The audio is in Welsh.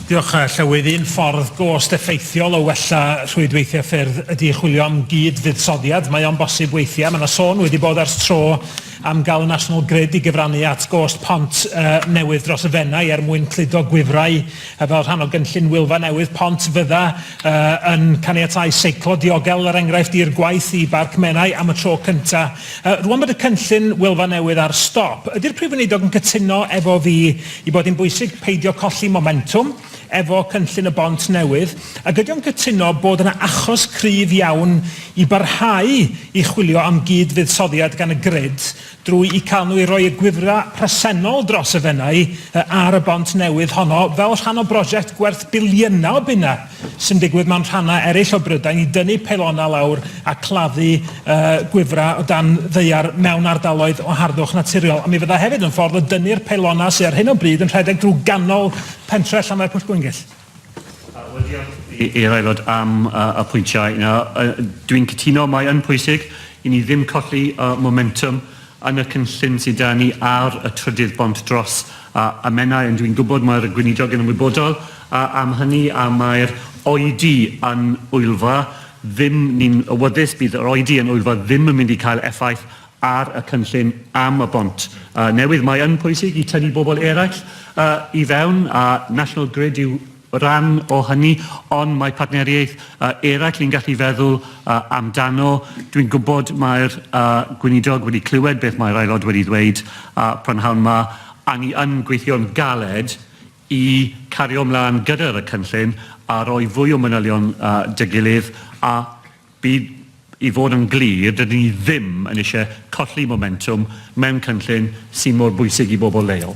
Diolch, Llywydd. Un ffordd gost effeithiol o wella rhwydweithiau ffyrdd ydy chwilio am gyd-fuddsoddiad. Mae o'n bosib weithiau. Mae yna sôn wedi bod ers tro am gael y National Grid i gyfrannu at gost pont uh, newydd dros y Fenai er mwyn cludo gwifrau uh, fel rhan o gynllun Wylfa Newydd Pont fydda uh, yn caniatau seiclo diogel er enghraifft i'r gwaith i Barc Menai am y tro cyntaf. Uh, rwan bod y cynllun Wylfa Newydd ar stop, ydy'r Prif Weinidog yn cytuno efo fi ei bod hi'n bwysig peidio colli momentwm efo cynllun y bont newydd, ac ydy o'n cytuno bod yna achos cryf iawn i barhau i chwilio am gyd-fuddsoddiad gan y grid drwy'u cael nhw i roi y gwifrau presennol dros y Fenai ar y bont newydd honno fel rhan o brosiect gwerth biliynau o bunnau? sy'n digwydd mewn rhannau eraill o Brydain i dynnu peilonau lawr a claddu uh, gwifrau o dan ddeiar mewn ardaloedd o harddwch naturiol. A mi fydda hefyd yn ffordd o dynnu'r peilonau sydd ar hyn o bryd yn rhedeg drwy ganol pentre Llanfair Pwll Gwyngyll. I'r aelod am uh, y pwyntiau yna, uh, dwi'n cytuno, mae yn pwysig i ni ddim colli uh, momentum Yn y cynllun sy 'da ni ar y trydydd bont dros y Menai, ond dwi'n gwybod mae'r Gweinidog yn ymwybodol am hynny a mae'r oedi yn Wylfa ddim, ni'n awyddus bydd yr oedi yn Wylfa ddim yn mynd i cael effaith ar y cynllun am y bont newydd. Mae yn pwysig i tynnu bobl eraill i fewn a National Grid yw rhan o hynny, ond mae partneriaeth eraill ni'n gallu feddwl amdano. Dwi'n gwybod mae'r Gweinidog wedi clywed beth mae'r Aelod wedi ddweud prynhawn 'ma, a ni yn gweithio'n galed i cario ymlaen gyda'r y cynllun a roi fwy o manylion 'da gilydd, a bydd, i fod yn glir, dydyn ni ddim yn eisiau colli momentwm mewn cynllun sy'n mor bwysig i bobl leol.